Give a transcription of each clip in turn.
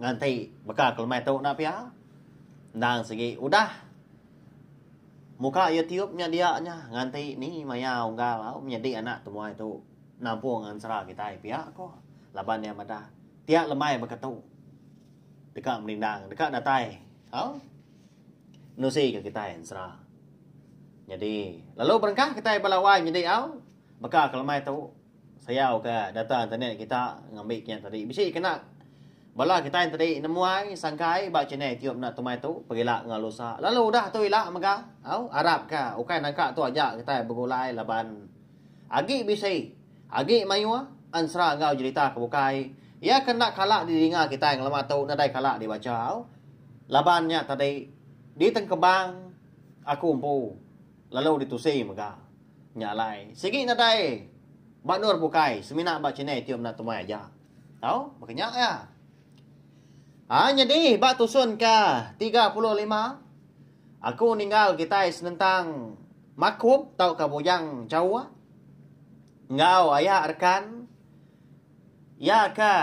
Nganti baka ke lemai tu enda pia. Endang sigi udah. Muka YouTube nya dia nya nganti ni maya unggal au menyedi anak temuai tu nampung ensera kitai pia ko laban iya madah pia lemai baka tu deka menindang deka datai au nenusi ke kitai ensera. Nyadi lalu berengkah kitai ba lawai nyedi au baka ke lemai tu. Sayau ka data internet kita ngambi kinya tadi. Bisi kena bala kitai enti di nemuai sangkai ba channel youtube enda tumai tu pergi ila enggau lusa. Lalu udah tu ila mega au arap ka ukai nangka tu aja kitai begulai laban agi bisi agi mayuh ensera enggau jerita ke bukai iya ke enda kala di dinga kitai ngelama tu nadai kala di bacha au. Laban nya tadi di tengkebang aku empu. lalu ditusi mega. Nya alai, sigi nadai ba endur bukai semina ba channel itiu meda temuai aja. Tau, baka nya iya. A nyadi ba tusun ke tiga puluh lima, aku ninggal kitai senentang Makup tauka Bujang Jawa enggau aya rekan. Iya ke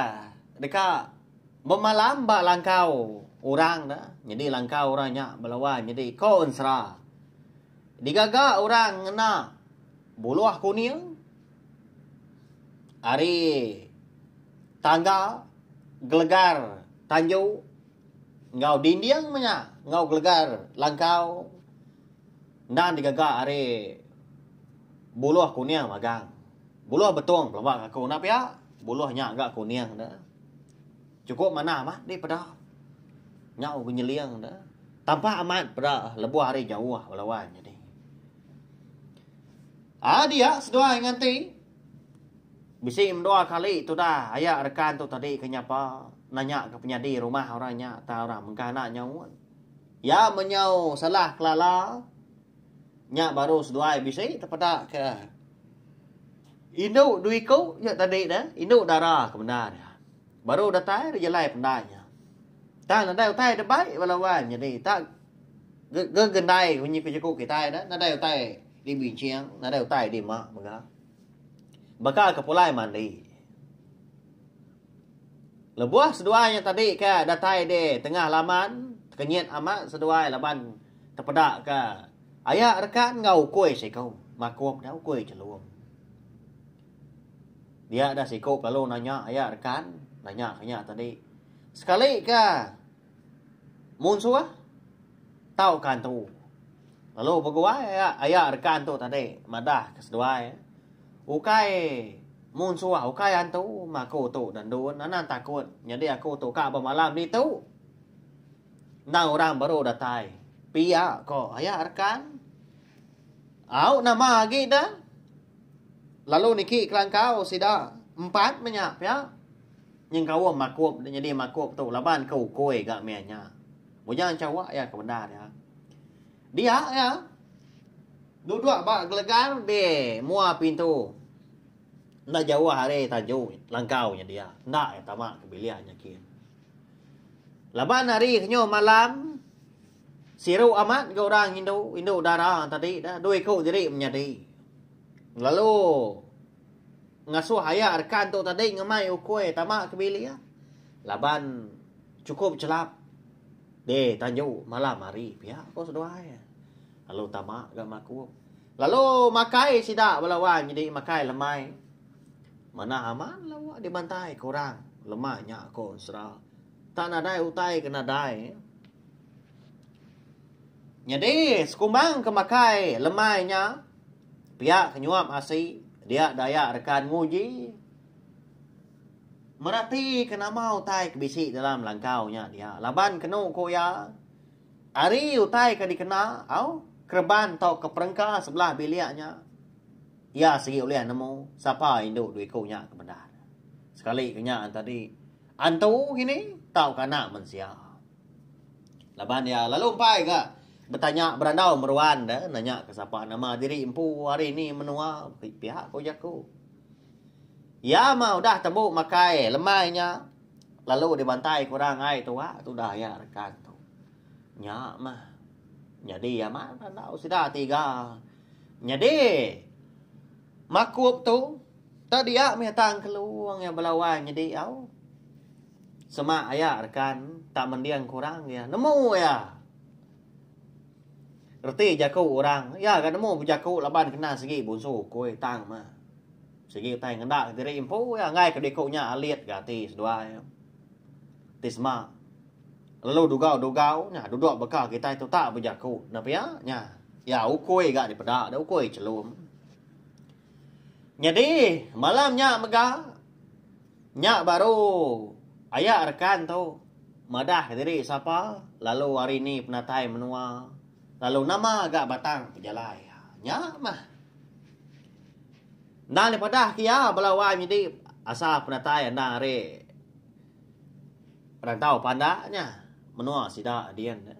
deka bemalam ba langkau orang ne nyadi langkau orang nya belawan nyadi ko ensera. Digaga orang ngena buluh kuning ari tangga gelegar tanju enggau dinding menya enggau gelegar langkau. Enda digaga ari buluh kuning magang. Buluh betung pelaba ngaku enda pia buluh nya ga kuning enda. Chukup manah bah dih peda. Nyau ke nyeling enda. Tampak amat peda lebuh hari jauh bala wan jadi. A dia seduai nganti bisi mendua kali tudah aya rekan tu tadi ke nyapa nanya ke penyadi rumah orang nya tang orang mengkah enda nyaut. Iya menyau salah kelala nya baru seduai bisi tepeda ke indu dua iku nya tadi ne indu dara ke bendar iya. Baru datai ri jalai pendai nya. Tang nadai utai da bai bala wan nyadi tak gegendai munyi ku jaku kitai dah nadai utai di binching nadai utai di mak mega. Baka ke pulai mandi. Lebuh seduai nya tadi ka datai di tengah laman, tekenyit amat seduai laban tepeda ka aya rekan enggau ukoi siko makuk dia ukoi chelum. Dia deh siko lalu nanya aya rekan nanya ke nya tadi. Sekali ka. Mun suah, tauka entu. Lalu beguai aya reka entu tadi madah ke seduai, ukai mun suah ukai antu meh aku tu enda ndun anang takut nyadi aku tu ka bemalam ditu. Endang orang baru datai. Pia ko aya reka. Au nama agi da. Lalu niki kelangkau sida empat menya pia nyengkaum makup da nyadi makup tu laban ke ukui ga meh nya. Muja enchawa iya ke bendar iya. Dia iya duduk ba gelegar di mua pintu enda jauh ari taju langkau nya dia. Enda iya tama ke bilik nya kin. Laban ari kenyau malam Siru amat ga orang indu, indu dara tadi da, dua iku diri menyadi. Lalu ngasuh aya rekan tu tadi ngemai ukui tama ke bilik laban chukup chelap di tanju malam hari pia ko seduai. Lalu tama ga makup. Lalu makai sida bala wang nyadi makai lemai. Manah amat lalu dibantai ke orang lemai nya ko ensera. Tak nadai utai ke nadai. Nyadi sekumbang ke makai lemai nya pia ke nyuap asi dia daya rekan nguji meratika nama utai ke bisi dalam langkau nya dia laban kenu ku iya ari utai ke dikena au kereban tau ke perengka sebelah bilik nya iya sigi ulih nemu sapa indu dua iku nya ke bendar sekali ke nya tadi. Antu ngini tauka anak mensia. Laban iya lalu empai ga betanya berandau meruan de nanya ke sapa nama diri empu hari ni menua pia ko jaku. Iya mah udah tembu makai lemai nya lalu dibantai ke orang ai tua tudah iya rekan tu. Nya mah nyadi amat berandau sida tiga nyadi. Makup tu, enda dia mih tang kelung iya belawan nyedi au. Semak aya rekan tak mending kurang iya nemu iya. Reti jaku orang, iya ga nemu bejaku laban kena sigi bunsu ukui tang mah. Sigi utai ngenda diri empu iya enggai ke diku nya alit ga ati seduai. Ti semak, Lalu dugau-dugau nya dudok baka kitai tu tak bejaku. Enda pia nya. Iya ukui ga dipeda deh ukui chelum. Nyadi malam nya mega nya baru aya rekan tu madah diri sapa lalu hari ni penatai menua lalu nama ga batang pejalai. Nya mah. Endang dipadah ke iya bala wai menyadi asal penatai endang ari Perantau pandak nya menua sida din ne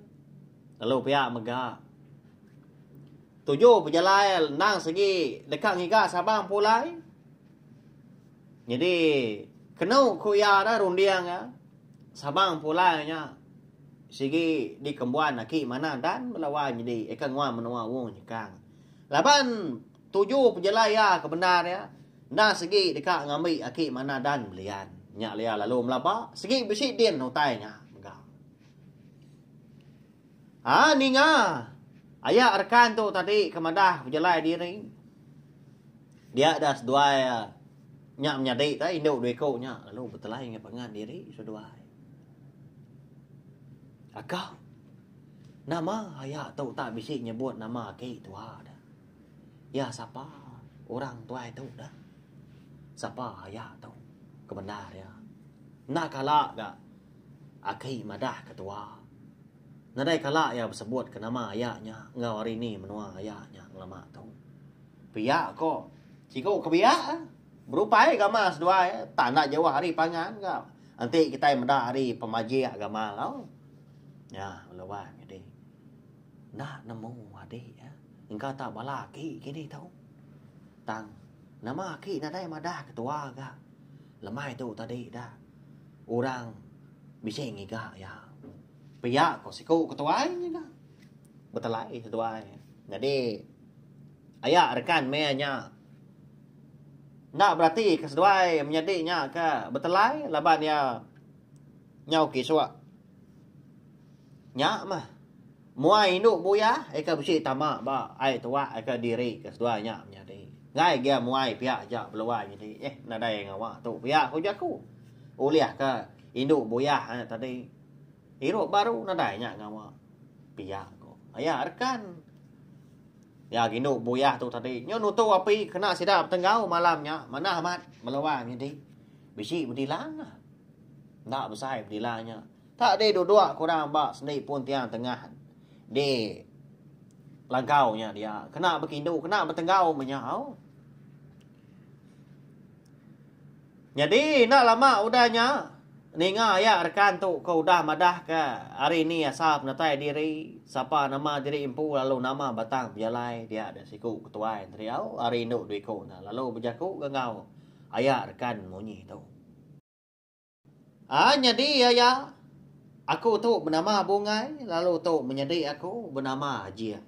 lalu pia mega tuju bejalai endang segi deka ngiga Sabang pulai nyadi kenu ku iya dah runding iya Sabang pulai nya sigi dikembuan aki manah dan bala wai nyadi eka nguan menua Wong Nyekang laban Tuju pejelai iya ke bendar iya, enda segi deka ngambi aki manah dan belian. Nya Lia lalu melaba, segi bisi din utai nya mega. Ha ninga aya rekan tu tadi ke madah pejelai diri. Dia dah seduai ah, nya menyadi tah indu dua iku nya lalu betelai enggau pangan diri seduai. Agak nama aya tu tak bisi nyebut nama aki tua dah. Iya sapa orang tuai tu dah? Sapa iya tu ke bendar iya? Enda kala ga aki madah ketua. Nadai kala iya besebut ke nama iya nya enggau ari ni menua iya nya ngelama tu. Pia ko siku ke biak eh. Berupai agama seduai eh. Tak enda jauh ari pangan ga. Enti kitai meda ari pemajik agama tau. Nya bala wan nyadi. Enda nemu adi iya engka tau bala aki kini tu. Tang nama aki nadai madah ketua ga lemai tu tadi da orang bisi ngiga iya. Pia ko siku ketua ngiga. Betelai ketua nyadi aya rekan meh nya enda berati ke seduai menyadi nya ke betelai laban iya nyau kisuk. Nya mah. Mua indu buya ika bisi tama ba ai tua ika diri ke seduai nya menyadi. Enggai gia muai pia aja beluai nyadi eh nadai ngawa tu pia ku jaku. Ulih ka indu buya nya tadi irup baru nadai nya ngawa pia ko. Aya rekan iya indu buya tu tadi nyu nutu api kena sida betenggau malam nya manah amat meluai nyadi. Bisi bedilan. Enda besai penilai nya. Tak deh duduk ke orang ba sendi pun tiang tengah di lagau nya dia. Kena bekindu, kena betenggau menyau. Nyadi enda lama udah nya ninga aya rekan tu ke udah madah ke hari ni asal penatai diri, sapa nama diri empu lalu nama batang pejalai dia da siku ketuai Neriau ari indu dua iku nya lalu bejaku ke enggau aya rekan munyi tu. Ah nyadi iya ya. Aku tu benama Bungai lalu tu menyadi aku benama Jing.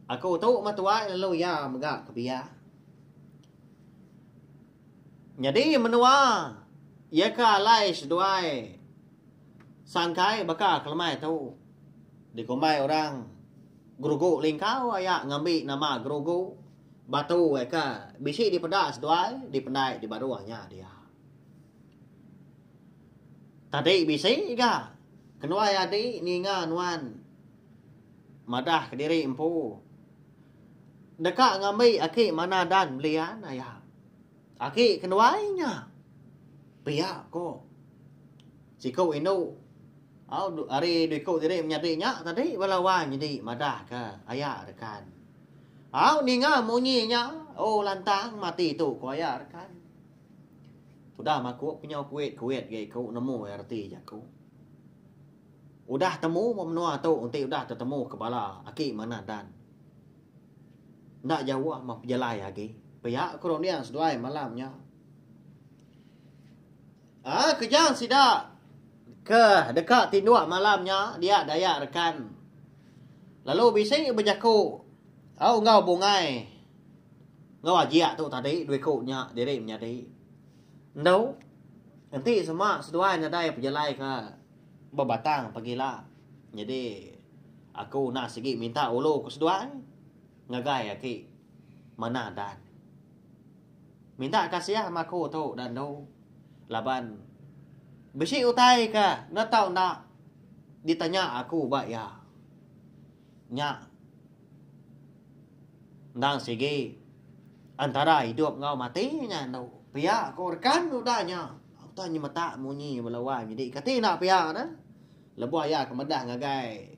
Aku tu meh tuai lalu iya mega ke biak. Nyadi menua iya ke alai seduai sangkai baka kelemai tu dikumbai orang Gerugu Lingkau aya ngambi nama Gerugu Batu ai ka bisi dipeda seduai dipendai di baruh nya dia. Tadi bisi ga kenuai adi ninga nuan madah kediri empu deka ngambi aki manah dan belian aya. Aki kenuai nya pia ko siku indu au ari dua iku diri menyadi nya tadi bala wang nyadi madah ka aya rekan. Au ninga munyi nya, oh lantang mati tu, ku aya rekan. Tudah maku penyau kuit-kuit ga iku nemu reti jaku. Udah temu ba menua tu enti udah tetemu ke bala aki manah dan. Enda jauh meh pejalai agi. Pia ku runding seduai malam nya. Ah keja sida ke deka tinduk malam nya dia Dayak rekan. Lalu bisi bejaku au enggau bungai enggau ajik tu tadi dua ku nya diri menyadi. Endu enti sema seduai nadai pejalai ke bebatang pegila. Nyadi aku enda sigi minta ulu ke seduai ngagai aki manah dan. Minta kasih ama aku tu udah andu laban bisi utai ke enda tau enda ditanya aku ba iya. Nya endang sigi antara idup enggau mati nya andu. Pia ku rekan udah nya udah nyemetak munyi bala wang nyidi kati enda pia ne lebuh iya ke meda ngagai.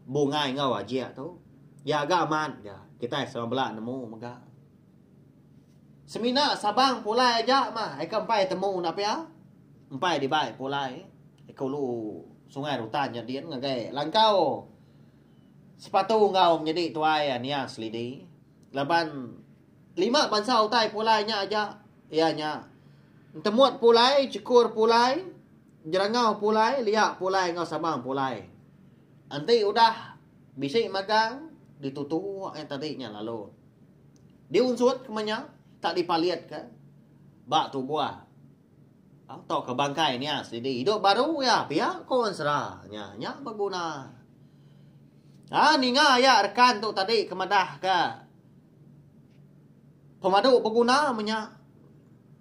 Bungai enggau Ajik tu. Iya ga amat ga. Kitai sama bela nemu mega. Semina Sabang pulai aja mah. Ika empai temu enda pia. Empai dibai pulai. Ika ulu Sungai Rutan nyadin ngagai langkau sepatu enggau menyadi tuai Ania Selidi. Laban Lima bansa utai pulai nya aja iya nya, Entemut pulai, Jekur pulai, Jerangau pulai, Lia pulai enggau Sabang pulai. Enti udah bisi magang ditutu eh tadi nya lalu diunsut kema nya tak dipalitka ba tubuh tauka bangkai nia sidi idup baru iya pia ko ensera nya nya beguna. Ha ninga aya rekan tu tadi ke madahka. Pemadu beguna menya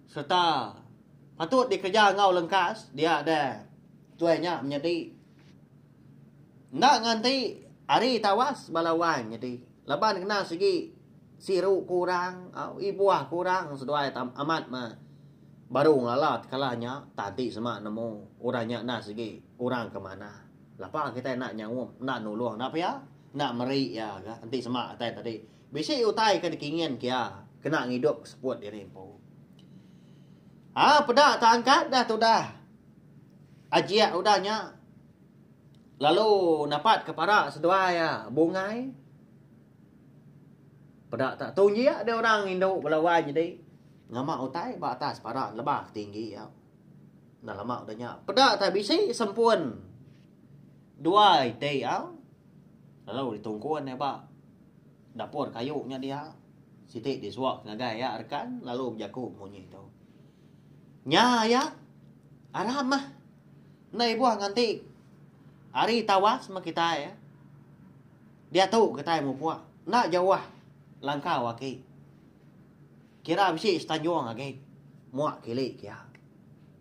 sereta patut dikereja enggau lengkas dia deh tuai nya menyadi enda nganti hari tawas bala wai nyadi laban kena sigi siru kurang ibuh kurang seduai amat meh baru ngelala tekala nya tan ti sema nemu udah nya enda sigi kurang ke manah lapa kitai enda nyaum enda nulung enda pia. Enda meri iya ga enti sema utai tadi. Bisi utai ke dikingin ke iya kena ngidup ke seput diri empu. Ha peda ta angkat dah tudah ajik udah nya lalu napat ke para seduai iya bungai. Peda ta tu injik deh orang indu bala wai nyadi ngama utai ba atas para lebah tinggi iya. Enda lama udah nya. Peda tak bisi sempun. Dua iti ya. Lalu ditungkun ya ba. Dapur kayu nya dia. Siti disuak ngagai ya rekan lalu bejaku munyi tu. Nya ya. Aram mah. Enda ibuh nganti hari tawas mah kitai ya. Dia tu kitai mupuk. Enda jauh langkau aki. Kira bisi setanjung agi. Muak kili kia.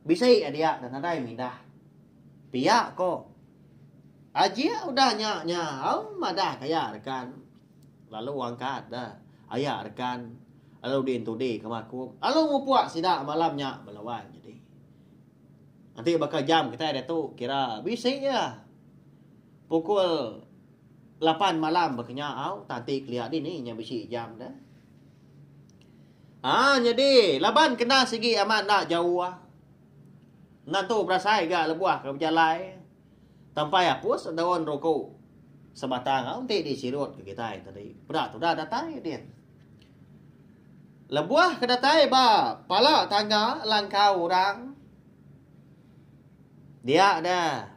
Bisi a dia dah nadai mindah. Pia ko. Ajik udah nya nyau madah ka iya rekan. Lalu angkat da aya rekan Aludin Tudi ke Makum lalu ngupuk sida malam nya bala wan nyadi. Enti baka jam kitai ditu kira bisi iya. Pukul lapan malam baka nya au tanti kelia dini nya bisi jam da. Ah nyadi laban kena sigi amat enda jauh. Ngantu berasai ga lebuh ke bejalai tempai apus daun ruku sebatang au enti di sirut ke kitai tadi. Peda tudah datai din. Lebuh ke datai ba pala tangga langkau orang dia da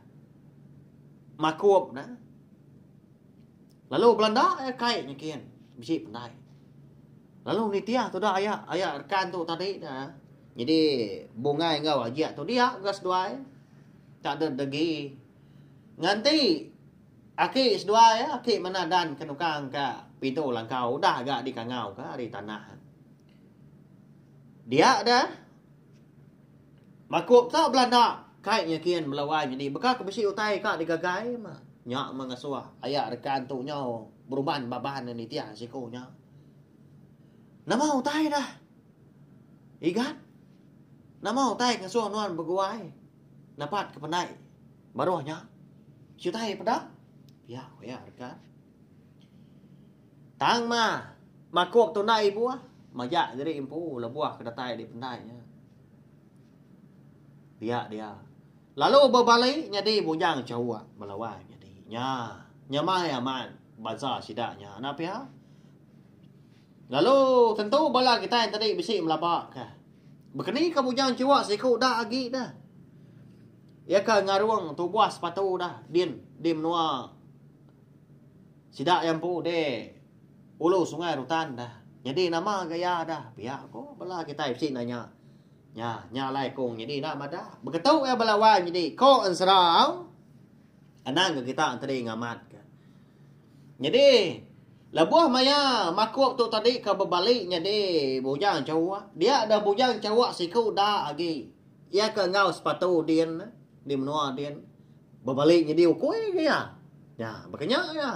makup ne. Lalu belanda iya kai nyikin bisi pendai. Lalu nitih tuda aya aya rekan tu tadi da. Jadi bungai enggau ajak tu dia ga seduai. Tak ada degi. Nganti aki seduai ya, aki manah dan ke nukang ka pintu langkau udah ga dikangau ka ari tanah. Dia dah Makuk ka belanda kai nyikin melo ai nyadi baka ke bisi utai ka digagai mah. Nya mah ngesuh aya rekan tu nyau beruban baban ne nitih siku nya. Nama utai da Igan? Nama utai ngesuh nuan beguai napat ke penai baruh nya? Siutai peda? Pia ku iya rekan. Tang ma, makuk tu enda ibuh. Majak diri empu lebuh ke datai dipendai nya. Pia dia. Lalu bebali nyadi bujang chawa bala wai nyadi. Nya, nyamai amat bansa sida nya enda pia. Lalu tentu bala kitai tadi bisi melaba ke. Bekeni ke bujang chawa siku dak agi dah. Iya ke ngarung tubuh sepatu dah din di menua Sida iya empu di ulu sungai rutan dah. Nyadi nama ga iya dah? Pia ko bala kitai bisi nanya. Nya, nya alai kong nyadi enda madah. Beketu iya bala wai nyadi ko ensera au. Anang ga kita enteri ngamat ka. Nyadi lebuh maya makup tu tadi ka bebali nyadi bujang chawak. Dia dah bujang chawak siku da agi. Iya ke enggau sepatu din di menua din bebali nyedi ukui ke iya. Nya, baka nya iya.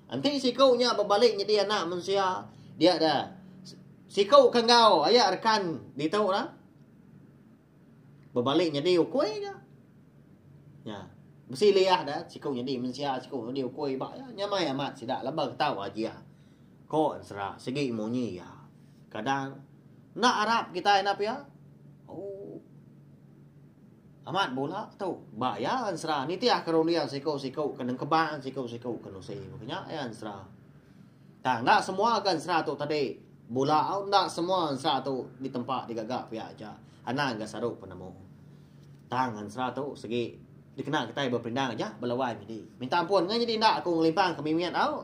Enti siku nya bebali nyedi anak mensia, dia da siku ke enggau aya rekan ditu da bebali nyedi ukui ke. Nya, bisi liah da siku nyedi mensia, siku nyedi ukui ba iya. Nya mai amat sida laban tau aji iya, ko Ensera sigi munyi iya. Kadang enda arap kitai nap iya. Ooh. Amat bula tu. Ba iya ensera nitih ke runding siku-siku ke nengkebang siku-siku ke nusi. Baka nya iya ensera. Tang enda semua ke ensera tu tadi bula au enda semua ensera tu ditempa digaga pia aja. Anang ga saru penemu. Tang ensera tu segi dikena kitai bepindang aja belawan nyadi. Minta ampun ngai nyadi enda aku ngelimpang ke mimit au.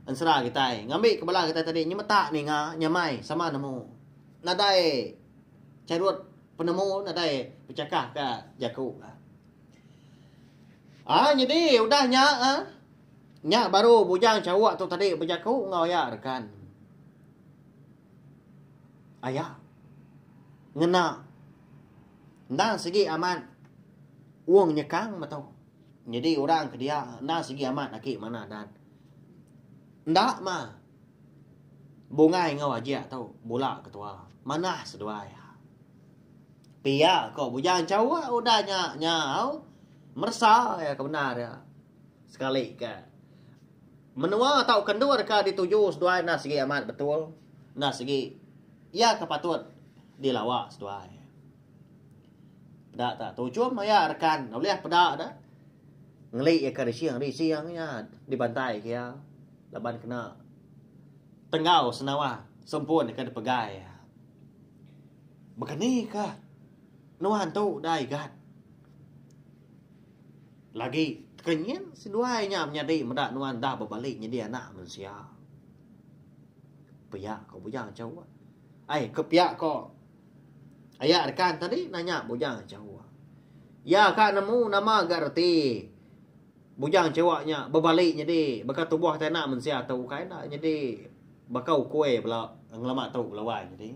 Ensera kitai ngambika bala kitai tadi nyemetak ninga nyamai sama nemu. Nadai charut penemu nadai bechakah ka jaku ka. Aa nyadi udah nya a nya baru bujang chauk tu tadi bejaku enggau aya rekan. Aya ngena endang sigi amat wong nyekang meto. Nyadi orang ke dia enda sigi amat aki manah dan. Enda mah. Bungai enggau ajik tu bula ketua. Manah seduai. Pia ko bujang chau a udah nya nya au meresa iya ke bendar iya. Sekali ke menua tauka endur ka dituju seduai enda sigi amat betul. Enda sigi iya ke patut dilawa seduai. Peda ta tujung maya rekan ulih peda da ngeli iya ke rising rising iya dibantai ke iya laban kena tenggau senawa sempun ke dipegai iya. Bekenikah nuan tu da igat lagi kenyin seduai nya menyadi meda nuan da bebali nyadi anak mensia. Pia ko bujang cheu ai ai ke pia ko. Aya rekan tadi nanya bujang Chewa. Iya ka nemu nama ga reti bujang Chewa nya bebali nyadi baka tubuh tai anak mensia tu ukai enda nyadi baka ukui bala ngelama tu bala wai nyadi.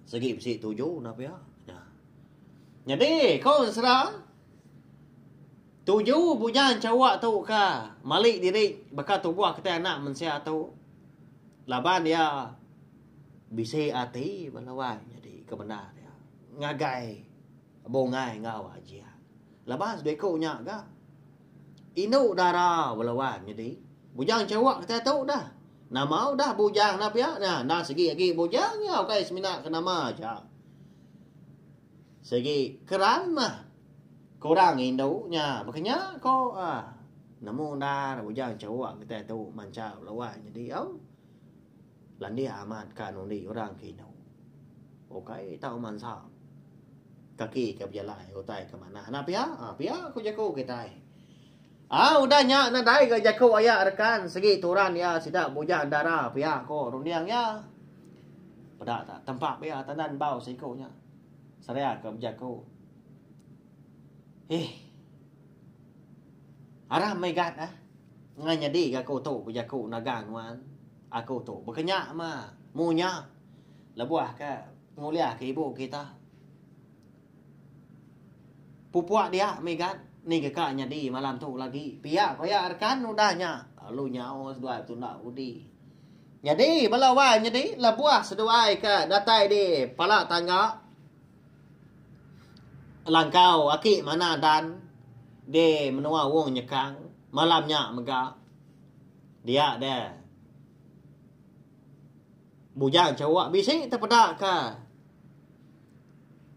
Segi bisi tuju enda pia. Nyadi ko sera tuju bujang Chewa tu ka mali diri baka tubuh kitai anak mensia tu laban iya Bisi ati ba lawan nyadi ke bendar nya ngagai bungai enggau ajian. Laban sebiku nya ga indu dara ba lawan nyadi bujang chewek kitai tu dah. Nama udah bujang enda pia nya enda sigi agi bujang nya ukai semina ke nama aja. Sigi keran mah kurang indu nya ba ke nya ko uhh nemu ndar bujang chewek kitai tu mancha ba lawan nyadi au. Landik amat ka nundi orang ke indu. Ukai tau mansa. Kaki ke bejalai utai ke manah. Anak pia, pia ku jaku kitai. Ah udah nya nadai ga jaku aya rekan segi turan iya sida bujang dara pia ko runding iya. Peda ta tempa pia tandan bau siku nya. Seria ke bejaku. Eh. Arah megat ah. Ngai nyadi ga ko tu bejaku nagang nuan. Aku tu baka nya ma, mu nya lebuh ka ngulih ka ibu kita. Pupuk dia migat niga ka nyadi malam tu lagi pia ko ya rekan udah nya lalu nyau seduai betunda udi. Nyadi bala wai nyadi lebuh seduai ka datai di pala tangga langkau aki mana dan di menua wong nyekang malam nya mega Dia da bujang chawa bisi te peda ka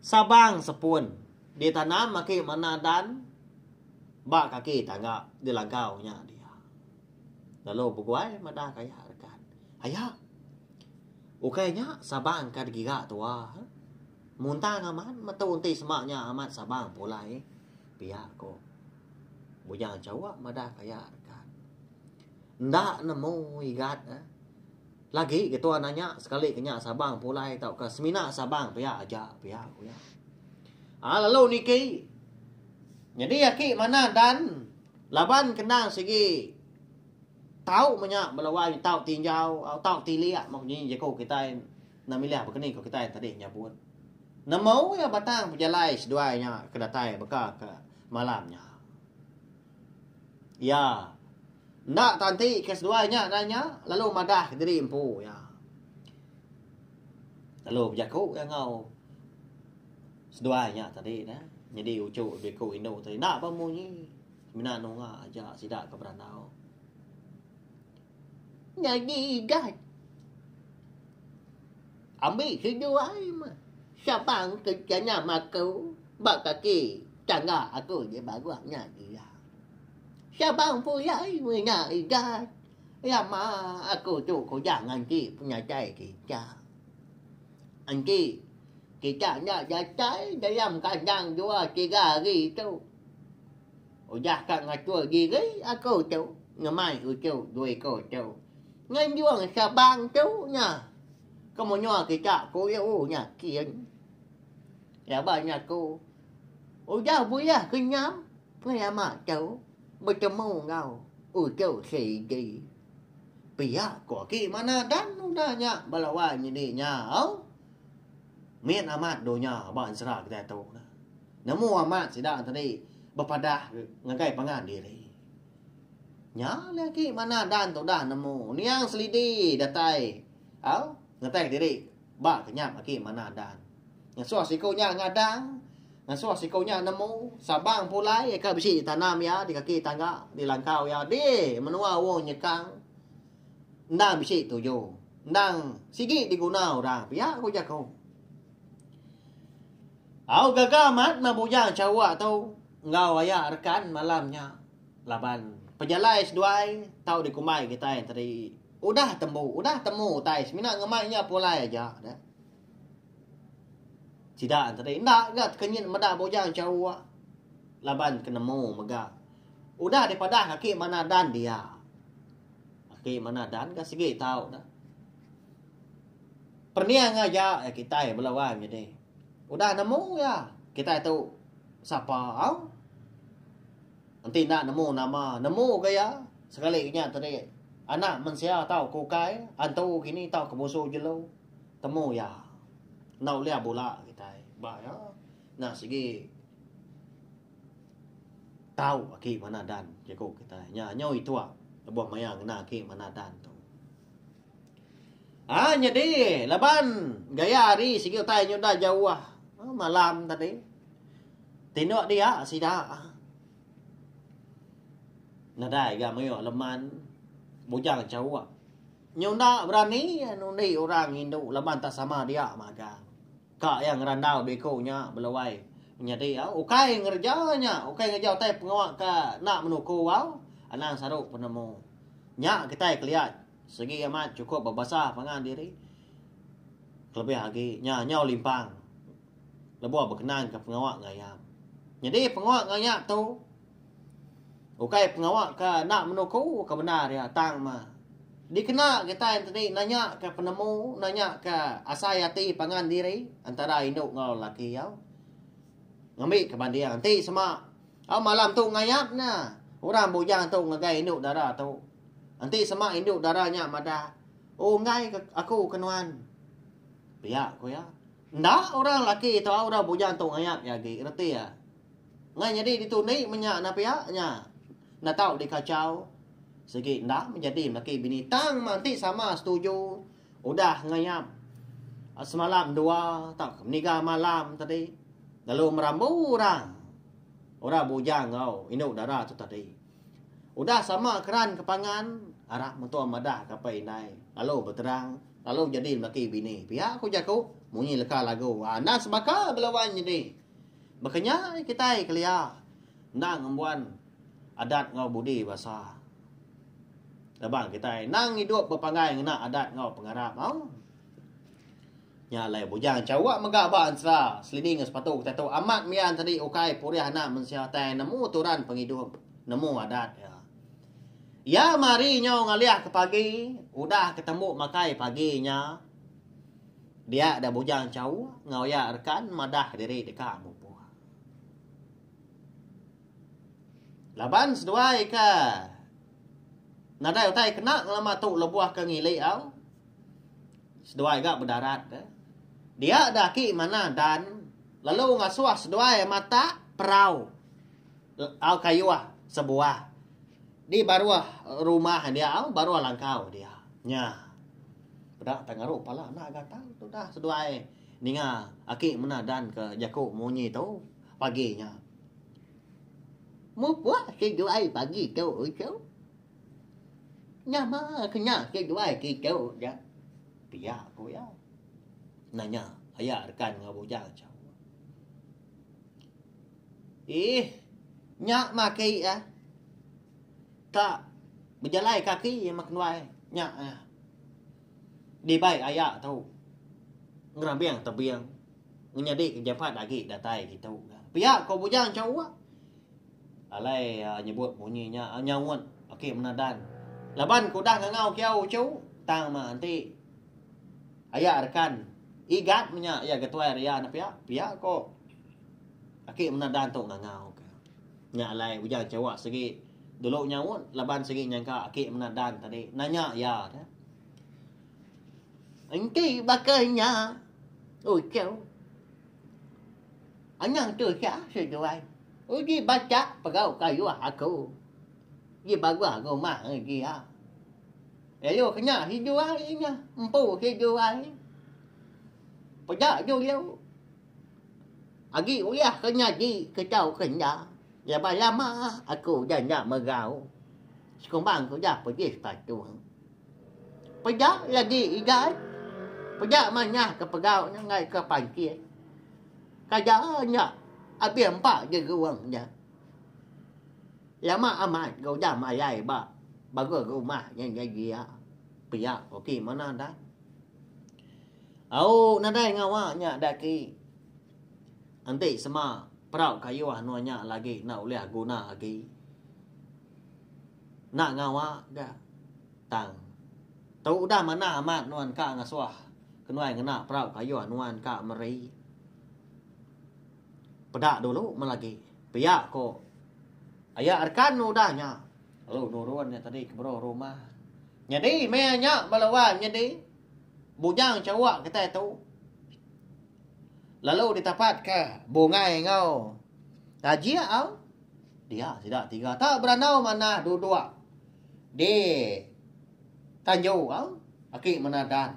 sabang sepun di tanam aki mana dan ba kaki tangga di langkau nya dia lalu beguai madah ka iya rekan. Aya ukai nya sabang ka digira tua muntang amat metu enti sema nya amat sabang pulai pia ko. Munyal Jawa madah ke aya rega. Enda nemu igat eh. Lagi ke tuan anya sekali ke nya Sabang pulai tauka semina Sabang pia aja pia ku iya. Ah lalu niki nyadi aki manah dan laban kendang sigi tau menya bala wai tau tinjau au tau tilik mok nyi jeku kitai enda milih bekeni ku kitai tadi nyabut. Nemu iya batang pejalai seduai nya ke datai beka ke Malam nya. Iya. Enda tanti ke seduai nya nan nya lalu madah diri empu iya. Lalu bejaku iya enggau seduai nya tadi neh. Nyadi uchu biku indu tadi enda bah munyi. Mina nunga aja sida ke berandau. Nyadi igat. Ambi sedu ai meh. Sabang ke janyam aku ba kaki tangga aku di Baguh nya iya. Sabang pulai mina igat. Lama aku tu kujang enti penyatai kita. Enti kita enda datai dalam kandang dua tiga hari tu. Udah ka ngatur diri aku tu ngemai uchu dua iku tu. Nganjung Sabang tu nya ke menua kita ku iya u nya kin. Laban nya ku udah bulih kenyam pengalamak tu betemu enggau uchu Seidi. Pia ku aki mana dan udah nya bala wai nyidi nya au. Mit amat dunya ba Sera kitai tu. Nemu amat sida tadi bepadah ngagai pangan diri. Nya alai agi manah dan tu udah nemu. Niang selidi datai au ngetek diri ba kenyap agi manah dan. Ngesuh siku nya ngadang, ngesuh siku nya nemu, sabang pulai aka bisi ditanam iya di kaki tangga, di langkau iya dih menua wong nyekang. Endang bisi tuju, endang sigi diguna orang pia ku jaku. Au gaga amat meh bujang Sarawak tu enggau aya rekan malam nya laban pejalai seduai tau dikumbai kitai tadi udah tembu udah temu utai semina ngemai nya pulai aja deh sida tadi enda ga tekenyit meda bujang Sarawak laban ke nemu mega udah dipadah ake manah dan dia ake manah dan ga sigi tau deh. Pening aja iya kitai bala orang nyadi. Udah nemu iya kitai tu sapa au. Enti enda nemu nama, nemu ga iya sekali nya tadi anak mensia tau ke ukai, antu kini tau ke musu jelu. Temu iya. Enda ulih bula kitai ba iya. Enda sigi tau aki Manadhan jaku kitai. Nya nyau itua lebuh maya ngena aki Manadhan tu. Ha nyadi laban gaya hari sigi utai nyu enda jauh malam tadi. Tindok dia sida nadai ga mayuh leman bujang chauk. Nyu enda berani undi orang indu laban tak sama dia magang. Ka iya ngerandau biko nya belawai nyadi au ukai ngereja nya ukai ngereja utai pengawa ka enda menuku au anang saru penemu. Nya kitai kelia Sigi amat chukup bebasa pangan diri kelebih agi nya nyau limpang lebuh bekenanka pengawa ngayap. Nyadi pengawa ngayap tu ukai pengawa ke enda menuku ke bendar iya tang mah dikena kitai enti di nanyaka penemu, nanyaka asai ati pangan diri antara indu enggau lelaki iya ngambika banding enti sema Au malam tu ngayap nya, orang bujang tu ngagai indu dara tu. Enti sema indu dara nya madah, Oh enggai ke aku ke nuan. Pia ku iya. Enda orang laki tu au orang bujang tu ngayap iya agi, reti iya. Enggai nyadi ditu ndi menya enda pia nya. Enda tau dikachau. Sigi enda menjadi melaki bini tang mah enti sama setuju Udah ngayap semalam dua tauka meniga malam tadi lalu merambu orang orang bujang enggau indu dara tu tadi. Udah sama keran ke pangan arap mentua madah ke apai indai lalu beterang lalu jadi lelaki bini pia ku jaku munyi leka lagu enda sebaka bela wan nyadi. Baka nya kitai kelia. Endang embuan adat enggau budi basa. Laban kitai endang idup bepanggai ngena adat enggau pengarap au. Nya alai bujang Chawa mega ba ensera selidi enggau sepatu kitai tu amat mian sadi ukai purih anak mensia tai nemu turan pengidup, nemu adat iya. Iya mari nyau ngalih ke pagi, udah ke tembu makai pagi nya dia da bujang Chawa enggau iya rekan madah diri deka mupuh. Laban seduai ke nadai utai kena ngelama tu lebuh ke ngilik au. Seduai ga bedarat ke. Dia da aki manah dan lalu ngasuh seduai matak perau au kayuh sebuah di baruh rumah india au baruh langkau dia. Nya peda tau ngaru pala anak gatau tu dah seduai ninga aki manah dan ke jaku munyi tu. Pagi nya. Mupuk seduai pagi tu uchu. Nyama kena seduai kitu ja. Pia ku iya. Nanya aya rekan enggau bujang chau. Ih, nya maki ah. Tak bejalai kaki mak nuai nya ah. Dibai aya tu. Ngerabing tebing. Menyadi ke Jephad agi datai ditu. Pia ko bujang Chaua. Alai nyebut munyi nya nyaut aki mena Dan. Laban ku udah ngangau kiau uchu tang meh enti aya rekan Igat menya iya ke tuai Ria ne pia. Pia ko aki mena Dan tu ngangau ke. Nya alai bujang Chaua sigi dulu nyaut laban sigi nyangka aki mena Dan tadi nanya iya. Enti baka nya. Oh cheu. Anang tu sya seduai. Uji bacha pegau kayuh aku. Ji baguh rumah ngeji iya. Lalu kena seduai inya. Empu seduai. Peda juluk. Agi ulih ke nyadi ke tau ke enda. Laban lama aku udah enda megau. Sekumbang ku udah pejis patung. Peda lagi igai. Peda manyah ke pegau nya enggai ke pancing. Kada nya abih empa di guang nya. Lama amat ke udah malai ba baruh rumah nya nyadi iya. Pia ko ki manah dai. Au nadai ngawa nya da ki. Enti sema perau kayuh anun nya lagi enda ulih guna agi. Enda ngawa ga tang tu udah manah amat nuan ka ngasuh kenuai ngena perau kayuh nuan ka meri. Peda dulu meh lagi pia ko aya rekan ne udah nya lalu nurun iya tadi ke beruh rumah. Nyadi meh iya nya bala wan nyadi bujang chawa kitai tu. Lalu ditapatka bungai enggau tajik au dia sida tiga ta berandau manah duduk di tanju au aki manah dan.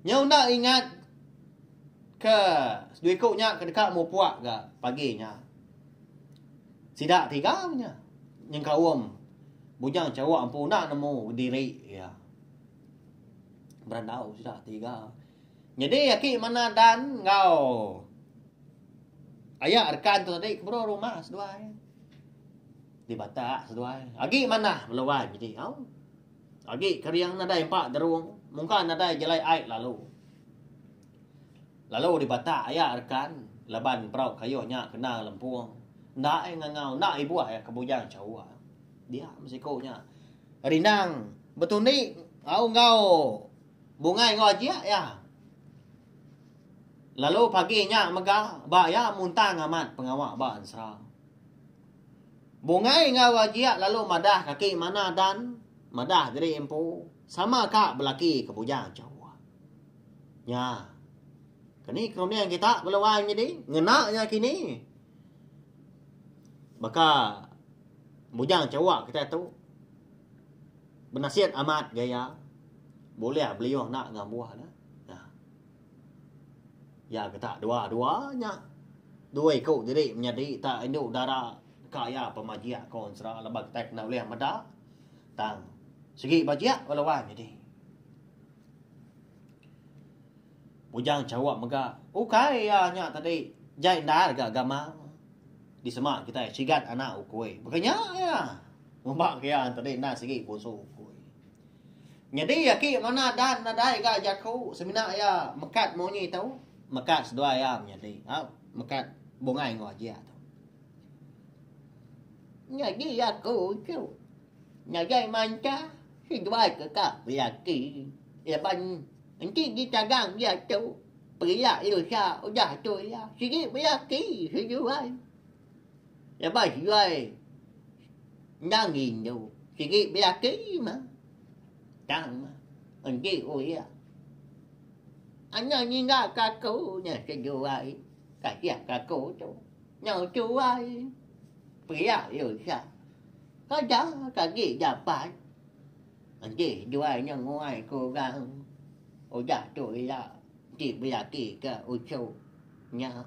Nyau enda ingat ke seduiku nya ke deka mupuk ga pagi nya. Sida tiga nya nyengkaum bujang chawa empu enda nemu diri iya. Berandau sida tiga. Nyadi aki mena Dan enggau aya rekan tu tadi ke bro rumah seduai. Di Batak seduai. Agi manah beluan nyadi au. Agi kering nadai empa derung. Mungka nadai jalai ai lalu. Lalu di Batak aya rekan laban perau kayuh nya kena lempung. Enda ai ngangau, enda ibuh ai ke bujang chawa. Dia meh siku nya. Rindang betundi au enggau. Bungai enggau ajik iya. Lalu pagi nya mega ba iya muntang amat pengawa ba ensera. Bungai enggau ajik lalu madah kaki mana dan madah diri empu sama ka belaki ke bujang Jehovah. Nya. Keni ke runding kita beluai nyadi ngena nya kini. Baka bujang Jehovah kitai tu. Benasit amat ga iya bulih beliuh enda enggau embuh ne. Nah. Iya getak dua-dua nya dua iku diri menyadi ta indu dara deka iya pemajik ko ensera laban kitai kena ulih meda tang sigi bajik ba luai nyadi. Bujang chauk mega ukai iya nya tadi jai endar ga gamal disema kitai sigat anak ukui. Baka nya iya. Uma kia enteri enda sigi pusu ukui. Nyadi aki manah Dan nadai ga jaku semina iya mekat munyi tu, mekat seduai iya menyadi. Au, mekat bungai enggau ajik tu. Nyadi aku tu nadai manta seduai ke ka lelaki laban enti ditagang diatu pia lusa udah tu iya sigi belaki seduai. Lebuh Juai endang ngindu, sigi belaki meh. Tang meh, enti uya. Anya nyinggah ke aku nya ke Juai, kasih ke aku tu. Nyau tuai, pia lu Sha. Kada ke agi dapat. Enti Juai nya nguai ke orang, udah tu ila enti belaki ke uchu. Nya.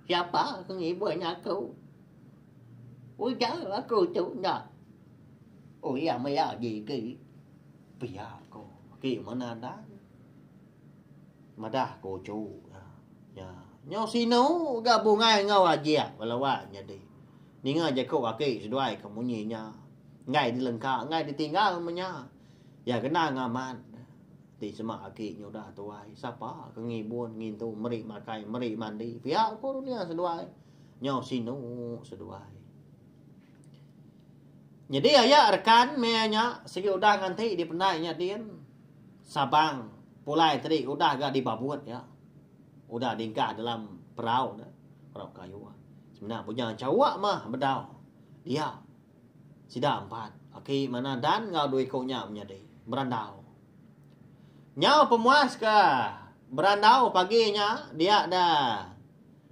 Siapa ke ngibun aku? Ujar aku tu enda. Oh iya maya gigi. Pia ko ki menadan. Madah ko cu. Nya. Nyo sinu ga bungai enggau ajik belawa nyadi. Ninga jako aki seduai ke munyi nya. Enggai dilengka enggai ditinggal menya. Ya genang amat. Ti sema aki nyudah tuai, sapa ke ngibun, ngintu, meri makai, meri mandi, pia ko dunia seduai, nyau sinu seduai. Nyadi aya rekan meh nya sigi udah ngan ti dipendai nya din, Sabang pulai tadi udah ga dibabut iya, udah dingkah dalam perau ne, perau kayu. Semina bunya chawa mah bedau dia Sida empat laki manah Dan enggau dua iku nya menyadi berandau. Nyau pemuas ke berandau pagi nya dia da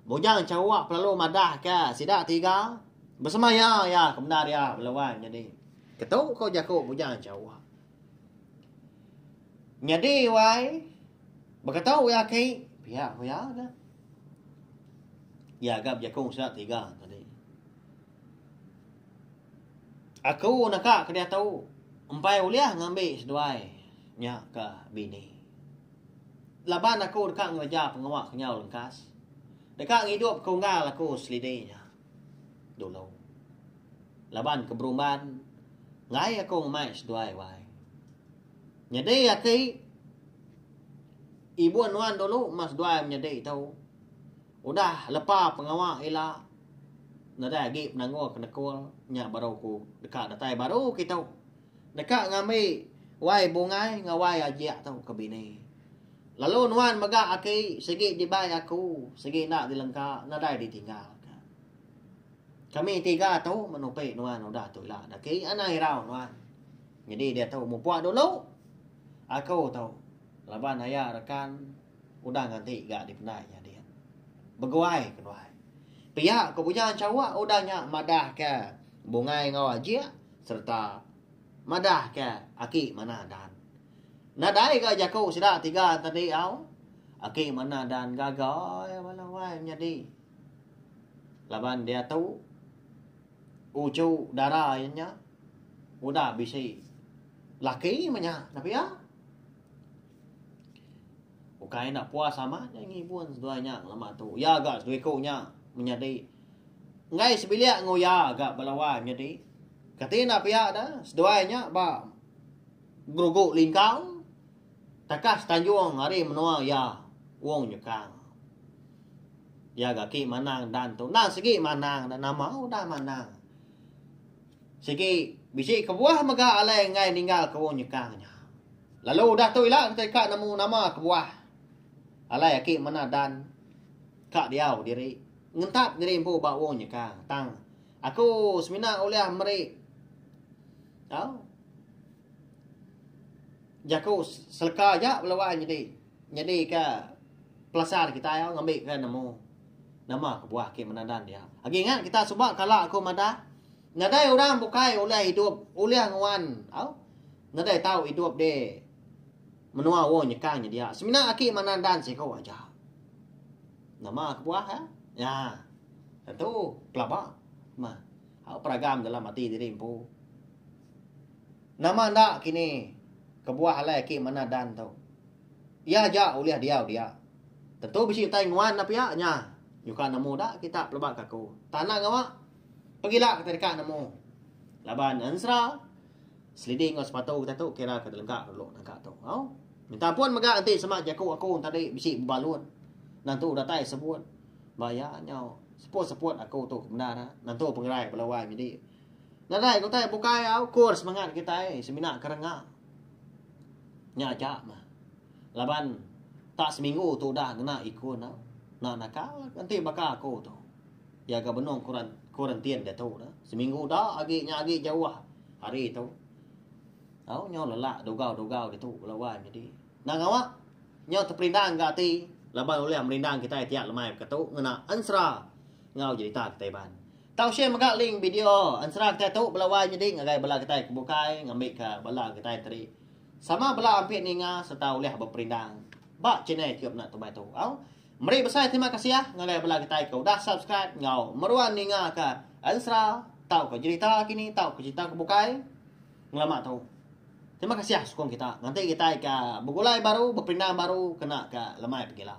Bujang Chawok pelalu madah ke sida tiga besemaya iya ke bendar iya bela wai menyadi ketu ko jaku Bujang Chawok. Nyadi wai beketu iya aki pia ko iya ga. Iya ga bejaku sida tiga tadi. Aku naka ke diatu empai ulih ngambi seduai nya ke bini. Laban aku deka ngereja pengawa ke nyau lengkas, deka ngidup ke unggal aku selidi nya dulu. Laban ke berumban enggai aku ngemai seduai wai. Nyadi aki ibu nuan dulu ma seduai menyadi tu. Udah lepa pengawa ila nadai agi penanggul ke nekul nya baru aku deka datai baru kitu deka ngambi wai bungai enggau wai ajik tu ke bini. Lalu nuan mega aki sigi dibai aku sigi enda dilengka nadai ditinggal ka. Kami tiga tu men upi nuan udah tu ila daki anang irau nuan. Nyadi diatu mupuk dulu aku tu laban aya rekan Udang ati ga dipendai nya din. Beguai ke nuan. Pia ko Bujang Chawa udang nya madah ke Bungai enggau Ajik serta madah ke Aki Manah Dan. Nadai ga jaku sida tiga tadi au. Aki Manah Dan gaga ia bala wai menyadi. Laban diatu uchu dara iya nya udah bisi laki mah nya. Nah pia. Ukai enda puas amat iya ngibun seduai nya lama tu. Iya ga seduai ku nya menyadi enggai sebilik enggau iya ga bala wai menyadi. Kati enda pia da seduai nya ba berugu lingkau takas tanjung ari menua iya Wong Nyekang. Iya ga agi manang dan tu. Enda sigi manang da nama udah manang. Sigi bisi kebuah mega alai enggai ninggal ke Orang Nyekang nya. Lalu udah tu ila kitai ka nemu nama kebuah alai aki mena dan ka diau diri ngentap diri empu ba Orang Nyekang tang aku semina ulih meri tau jaku seleka aja lalu ai nyadi. Nyadika pelasar kitai au ngambika nemu nama kebuah ke menandan dia. Agi ingat kita suba kala aku madah nadai orang bukai ulih idup ulih nguan au nadai tau idup di menua uo nyekang nyedia semina aki menandan siko aja. Nama kebuah ka? Nya tentu pelaba mah au peragam dalam ati diri empu. Nama enda kini kebuah alai aki manah Dan tu. Iya aja ulih diau dia. Tentu bisi utai nguan enda pia nya nyuka nemu enda kita pelaba ke aku. Tanah ngawa pegila kitai deka nemu laban ensera selidi enggau sepatu kita tu kira ke delegak dulu nangka tu. Au. Minta ampun mega enti sema jaku aku tadi bisi bebalut. Nentu datai sebut. Ba iya nyau seput-seput aku tu ke bendar nentu pengerai bala wai nyadi. Nadai ke utai bukai au ukur semangat kitai semina ke renga. Nya aja meh. Laban tak seminggu tu udah ngena ikun au. Enda naka enti baka aku tu. Iya ga benung kuran kuarantin diatu tu. Seminggu uda agi nya agi jauh hari tu. Au nyau lelak dugau-dugau ditu bala wai nyadi. Enda ngawa nyau teperindang ga ati laban ulih merindang kitai tiap lemai baka tu ngena ensera enggau jerita kitai iban. Tau share mega link video ensera kitai tu bela wai nyadi ngagai bala kitai ke bukai ngambika bala kitai tadi sama bela ampit ninga sereta ulih beperindang ba channel iku mena tu mai tu au. Meri besai terima kasih ngagai bala kitai ke udah subscribe enggau meruan ninga ka ensera tauka jerita kini tauka jerita ke bukai ngelama tu. Terima kasih sukung kita nganti kitai ka begulai baru beperindang baru kena ka lemai pegila.